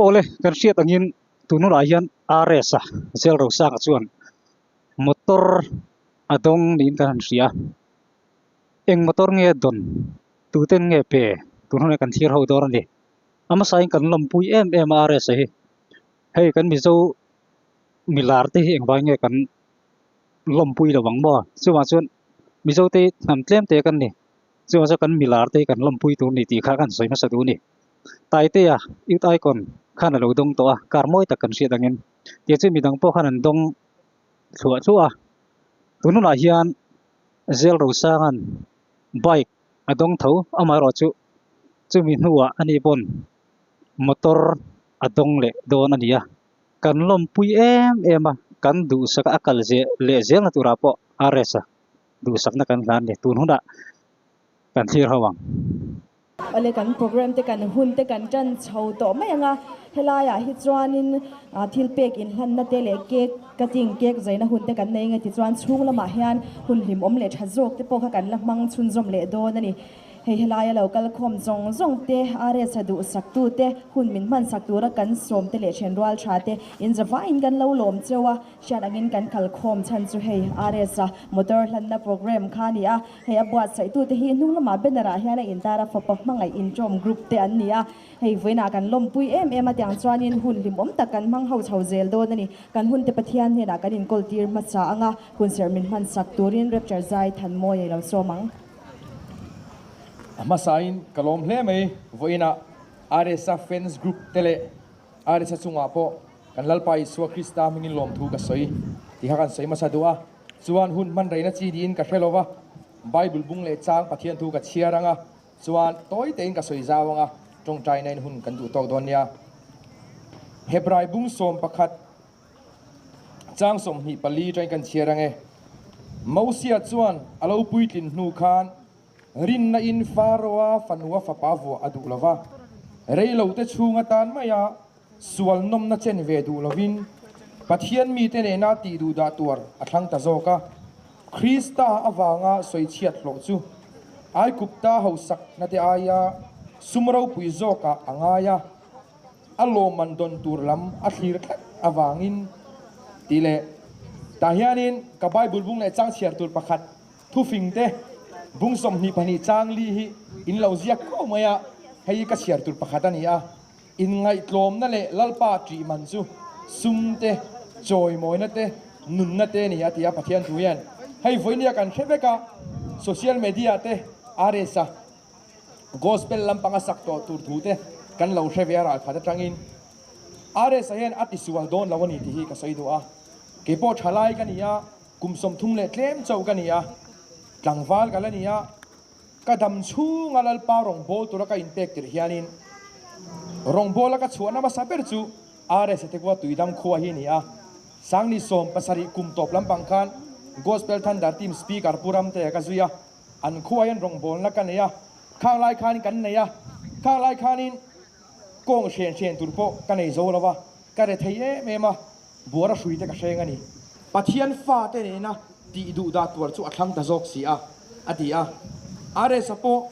awle kan hriat angin tunah hian rs a zelro sanga chuan motor a dawng niin kan han hria eng motor nge dawn tuten nge pe tun hunah hian kan thlir ho dâwn a ni a hmasain kan lawmpui em em a rs a hi hei kan mizo. Milar te hi engvai nge kan lawmpui lo ang maw? Chuvang chuan Mizo te hi hnam tlem te kan ni. Chuvang chuan kan Milar te hi kan lawmpui tur ni tih kha kan sawi hmasa duh ni. Taiteia Youth Icon khan a lo dawng tawh a, kar mawi tak kan hriat angin. Tih chu midang pawh khan an dawng thluah thluah a. Tun hunah hian Zel Rosanga'n bike a dawng tho, amaherawh chu chumi hnuah ani pawn motor a dawng leh dawn a ni a. Kan lawmpui em em a, kan duhsaka a kal zeh leh zel na turah pawh a rest a, duhsakna kan hlan ni, tun hunah kan thlir ho ang. Pale kan program te kan hun te kan tan chho tawh mai ang a, helaiah hi chuanin thil pek inhlanna te leh cake cutting, cake zaina hun te kan nei nge tichuan chhung lamah hian hun hlim awm leh tha zawk te pawh kha kan la hmang chhunzawm leh dawn a ni. Hei helai a lo kal khawm zawng zawng te, a retsa duh sak tu te, hun min hmansak tur a kan sawm te leh thian rual tha te in zavai in kan lo lawm cheu a, hriat ang in kan kal khawm chhan chu hei a retsa motor hlanna programme kha a ni a, hei a buatsaih tu te hi hnunglamah banner ah hian a in tar a, fapa hmangaih inṭawm group te an ni a, hei vawiin ah kan lawmpui em em a tiang chuan in hun hlimawm tak kan hmang ho chho zel dawn a ni, kan hun te Pathian hnenah kan in kawl tir hmasa ang a, hun serh min hmansak tur in Rapture Zai Thanmawia i lo sawm ang. Hmasain ka lawm hle mai, vawiinah Aresa fans group te leh Aresa chungah pawh kan Lalpa Isua Krista hmingin lawm thu ka sawi ti kha kan sawi hmasa duh a, chuan hun hmanreina chi niin ka hre lo va, Bible bung leh chang Pathian thu ka chhiar anga chuan tawi tein ka sawi zau anga tawngtaina in hun kan duh tawk dawn nia. Hebrai bung sawm pakhat Chang sawmhnih pali aṭangin kan chhiar ange. Mosia chuan a lo puitlin hnu khan rinna in Faraoa fanua fapa vuah a duh lo va, reilote chhung atan maia sualnawmna chen ve duh lovin Pathian mite nena tih duh dah tuar a thlang ta zawk a. Krista avanga sawi chhiat hlawh chu Aikupta hausaknate aia sum ropui zawkah a ngai a. a lawmman dawn tur lam a thlir tlat avangin tih leh. Tah hianin ka Bible bung leh chang chhiar tur pakhat thufing te bung sawmhnih pahnih chang li hi in lo ziak ko mai a, hei hi ka chhiar tur pakhat a ni a. In ngaihtlawmna leh Lalpa ṭih man chu sum te, chawimawina te, nunna te a ni a ti a Pathian thu hian hei vawinia kan hre vek a, social media te aa resa. Gospel lampanga sak tawh tur thu te kan lo hre ve a ralkhat atangin RSA hian a tisual dawn lo a ni tih hi ka sawi duh a, kei pawh tha lai ka ni a, kum sawmthum leh tlem chauh ka ni a, tlangval ka la ni a, ka dam chhunga Lalpa rawngbâwl tura ka inpek tirh hianin rawngbâwl a ka chhuahna hmasa ber chu RSA Thekua Tuidam khua hi a ni a, Sangni sawm pasarih kum tawp lampang khan Gospel Thunder Team Speaker Pu Ramteia ka zui a, An khuaiin rawngbawlna ka nei a, khaklai khanin kan nei a, khaklai khanin kawng hrian hrian tur pawh ka nei zo lo a, ka re thei em em a, buara hrui te ka hreng a ni. Pathian fate nena tih duhdah tuar chu a thlang ta zawk si a, a ti a. A resa pawh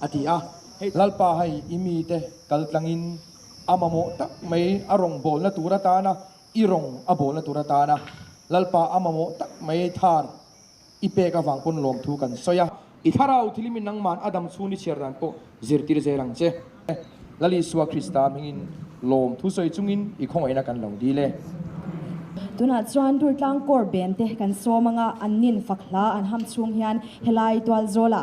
a ti a. Hei Lalpa hei i mite kaltlangin a mamawh tak mai a rawn bawlna tur atan a, i rawn a bawlna tur atan a Lalpa a mamawh tak mai thar i pek avang pawn lawm thu kan sawi a. I Thlarau thilimin nangman a dam chhun i chhiar dan pawh zirtir zel ang che. Lal Isua Krista hmingin lawm thu sawi chungin i khawngaihna kan lo dil e. Tunah chuan Dultlang kawr bem te kan sawm anga an nin fak hla an ham chhung hian helai tual zawla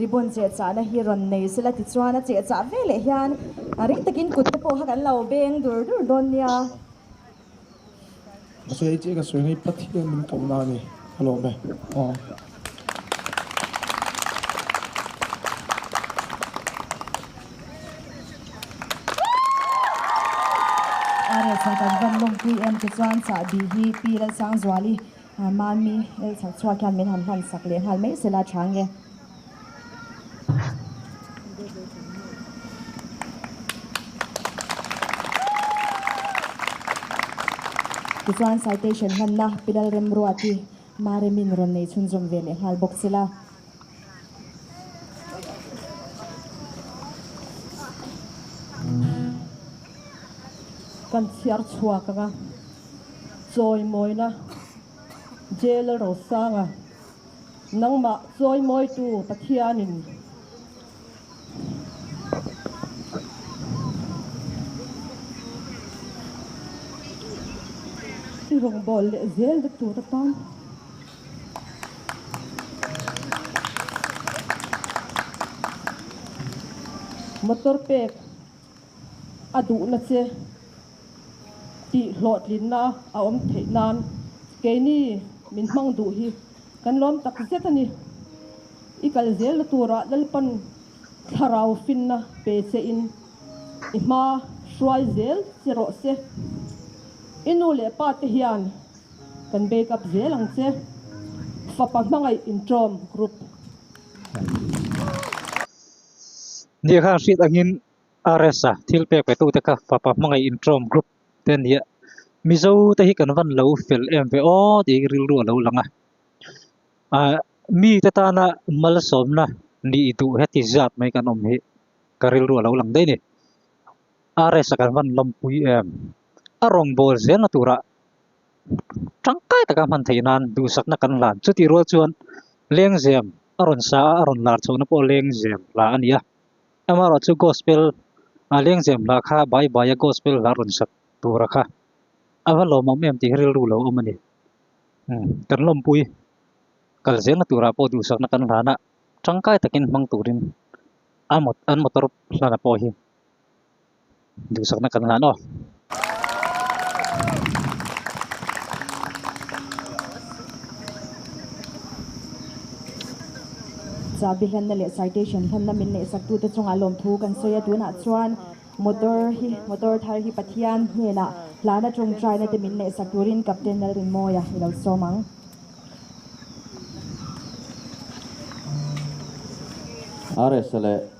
Ribbon cheh chahna hi rawn nei se la tichuan a cheh chah veleh hian ring takin kutte pawh kha kan lo beng dur dur dawn nia. Mahse hei chiah ka sawi hi Pathian min koh na a ni ka lawm e aw. Areh chhah tak van lawm pi em tichuan chahbi hi Pi Lalsangzuali Mahni el chhak chhuak hian min han hmansak leh nghal mai se la tha nge. Tichuan citation hmanna Pilalrem Ruati Maremin rawn nei chhunzawm ve leh nghal bawk se la. Kan chhiar chhuak anga chawimawina Jail Rosanga nangmah chawimawitu Pathianin i rawngbâwl leh zêl dektu te tan. Motor pek a duhna che tih hlawhtlinna a awm theih nan keini min hmang duh hi kan lawm tak zet a ni. I kal zel na tura Lalpan thlarau finna pe che in i hma hruai zel che rawh se. I nu leh pa te hian Kan bake up zel ang che. Fapa hmangaih intawm group. Nia kha hriat angin RS a thil pek petu te kha fapa hmangaih intawm group te a nia. Mizo te hi kan van lo fel em ve aw tih i rilru a lo lang a. Ahh mi te tana malsawmna ni i duh he ti zat mai kan awm hi ka rilru a lo lang daih a ni. RS a kan van lampui em. A rawngbâwl zel na turah tangkai taka hman theih nan duhsakna kan la chutih rual chuan lengzem a rawn sa a a rawn lar chhohna pawh lengzem hla a ni a amaherawhchu chu gospel a lengzem hla kha bai baia gospel hla rawn sak tura kha a va lawm ang em tih hi rilru lo awm a ni kan lawmpui kal zel na turah pawh duhsakna kan lana tangkai takin hmang turin an motor hlana pawh hi duhsakna kan ngah nawh. Chah bihlanna leh citation hlanna min neih saktu te chungah lawmthu kan sawi a, tunah chuan motor hi motor thar hi Pathian hnenah hlan atang taina te min neih sak turin Captain Lalrinmawia i lo sawm ang. Aresa leh.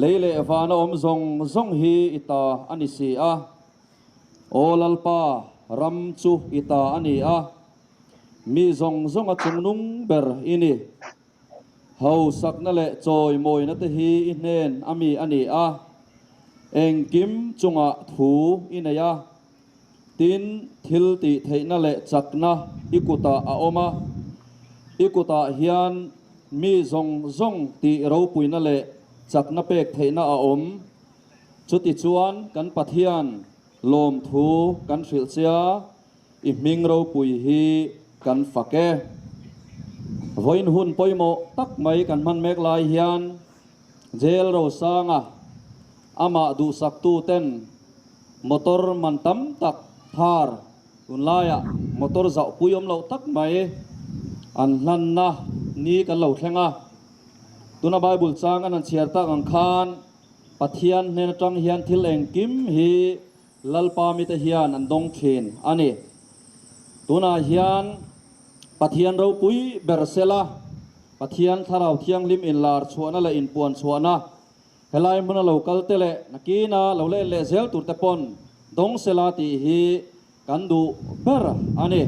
Lei leh van a awm zawng zawng hi i ta a ni si a, Aw Lalpa, ram chu i ta a ni a, mi zawng zawnga chungnung ber i ni. Hausakna leh chawimawina te hi i hnen a mi a ni a, engkim chungah thu i nei a. Tin, thil tih theihna leh chakna i kutah a awm a. I kutah hian mi zawng zawng tih ropuina leh chakna pek theihna a awm. Chutichuan kan Pathian lawmthu kan hrilhchia i hming ropui hi kan fak e. Vawiin hun pawimawh tak mai kan hman mek lai hian Jail Rosanga amah duhsaktu ten motor man tam tak thar tunlaiah motor zauh pui awm loh tak mai an hlanna ni kan lo thleng a. Tuna Bible chang an han chhiar tak ang khan Pathian hnen atang hian thil engkim hi, Lalpa mite hian an dawng thin a ni. Tunah hian Pathian ropui ber sela, Pathian Thlarau Thianghlim inlar chhuahna leh inpuan chhuahna, helai hmun a lo kalte leh nakina lo la en leh zel turte pawn dawng sela tih hi kan duh ber a ni.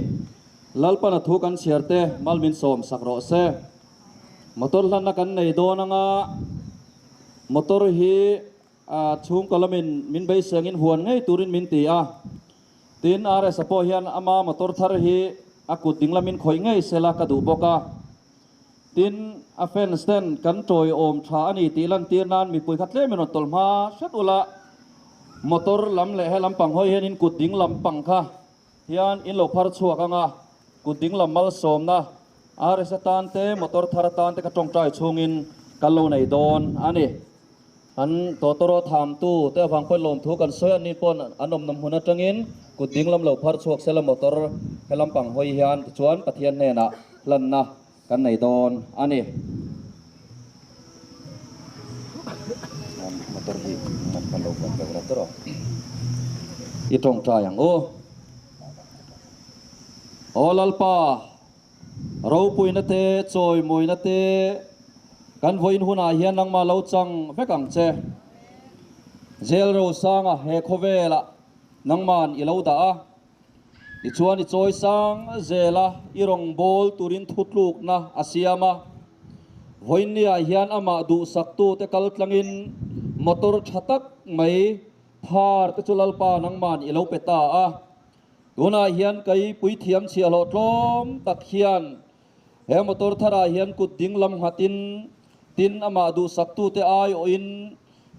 Lalpana thu kan chhiarte mal min sawm sak rawh se. Motor hlanna kan nei dawn anga motor hi. A chhungkaw lamin min beisengin huan ngei turin min ti a. Tin, RS-a pawh hian ama motor thar hi a kut ding lamin khawih ngei sela ka duh bawk a. Tin, a fans ten kan tawi awm tha a ni tih lantir nan mipui kha tlem in rawn tawlh hma hret ula motor lam leh he lampang hawi hian in kut ding lampang kha, hian in lo phar chhuak ang a, kut ding lam malsawmna RS atan te motor thar atan te ka tawngtai chhungin kan lo nei dawn a ni. Kan tawtawraw thamtu te avang pawi lawm thu kan sawi anni pawn an awmnawm hun atangin kut ding lam lo phar chhuak sela motor he lampang hawi hian tichuan Pathian hnenah hlanna Kan nei dawn a ni. I tawngtai ang u. Aw Lalpa, ropuina te, chawimuina te kan vawiin hunah hian nangma lo chang vek ang che. Jail rosanga he khawvelah nangma'n i lo dah a. Tichuan i chawi sang zel a, i rawngbâwl turin thutlûkna a siam a. Vawinia hian amah duhsaktute kal tlangin motor ṭha tak mai phâr te chu Lalpa nangmân i lo pe ta a. Tunah hian kei puithiam chhiahhlawh tlâwm tak hian He motor tharah hian kut dinglam nghatin, tin amah duhsaktute ai awhin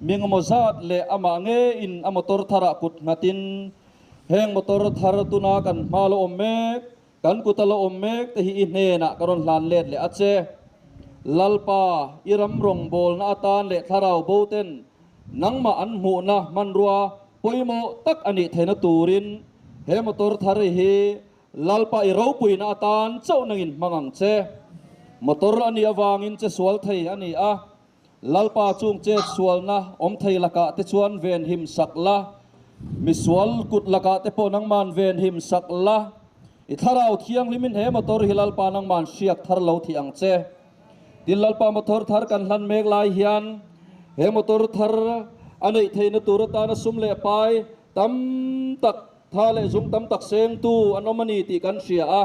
mingemaw zat leh amah ngeiin a motor tharah kut nghatin, Heng motor thar tuna kan hma lawm mek, kan kut a lawm mek te hi i hnenah ka rawn hlan let leh a che. Lalpa, i ram rawngbawlna atan leh thlarau boten nangmah an hmuhna hmanrua pawimawh tak a nih theihna turin he motor thar hi Lalpa i ropuina atan chauh nangin hmang ang che. Motor anih avangin che sual thei a ni a. Lalpa chung chet sualna awm thei lakah te chuan ven him sak la, misual kut lakah te pawh nangman ven him sak la. I thlarau thianghlimin he motor hi Lalpa nangman hriak thar lo thih ang che. Tin, Lalpa motor thar kan hlan mek lai hian he motor thar a neih theihna tur atan a sum leh pai tam tak Tha leh zung tam tak sengtu an awm a ni tih kan hria a,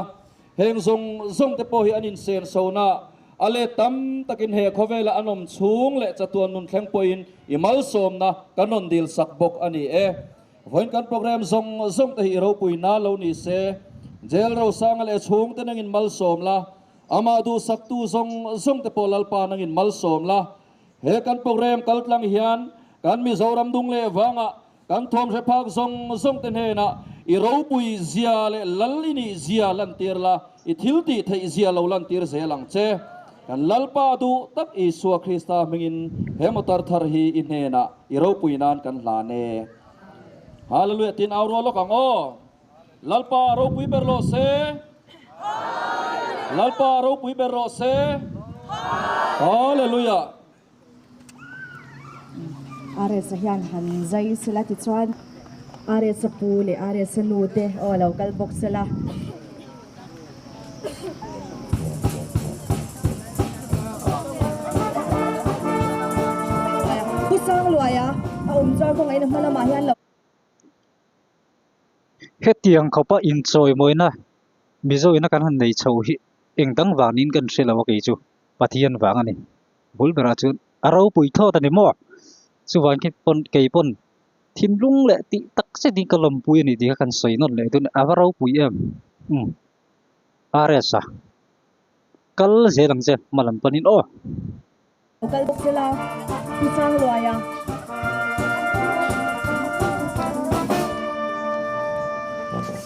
heng zawng zawng te pawh hi an inseng sawnah a let tam takin he khawvela an awm chhung leh chatuan nun thleng pawhin i malsawmna kan rawn dil sak bawk a ni e. Vawiin kan programme zawng zawng te hi i ropui nal lo ni se, Jail Rosanga leh chhung te nangin malsawm la, amah duhsaktu zawng zawng te pawh Lalpa nangin malsawm la. He kan programme kaltlang hian kan Mizoram Dungleh vanga Kan thawmhre phak zawng zawngte hnenah i ropui zia leh lal i nih zia lantir la, i thiltih theih zia lo lantir zel ang che. Kan Lalpa duh tak Isua Krista hmingin he motor thar hi i hnenah i ropui nan kan hlan e. Hallelujah tiin au rual lawk ang aw. Lalpa a ropui ber rawh se. Hallelujah. Lalpa a ropui ber rawh se. Hallelujah. Aresa hian han zai sela tichuan aresa pu leh aresa nu te aw alo kal bawk sela Pu Sangluaia a awm chuan khawngaih na hma lamah hian lo Hetiang khawpa inchawimawina Mizoina kan han nei chho hi engdang vangin kan hrelo a kei chu. Pathian vang a ni. Bul berah chuan a ropui thlawt a ni maw? Chuvang khi pawn kei pawn thinlung leh tih tak zet in ka lawmpui a ni tih kha kan sawi nawn leh dawn. A va ropui em? Umm. Ares a kal zel ang che hma lam panin aw. A kal bawk zel a, pu Changluai a.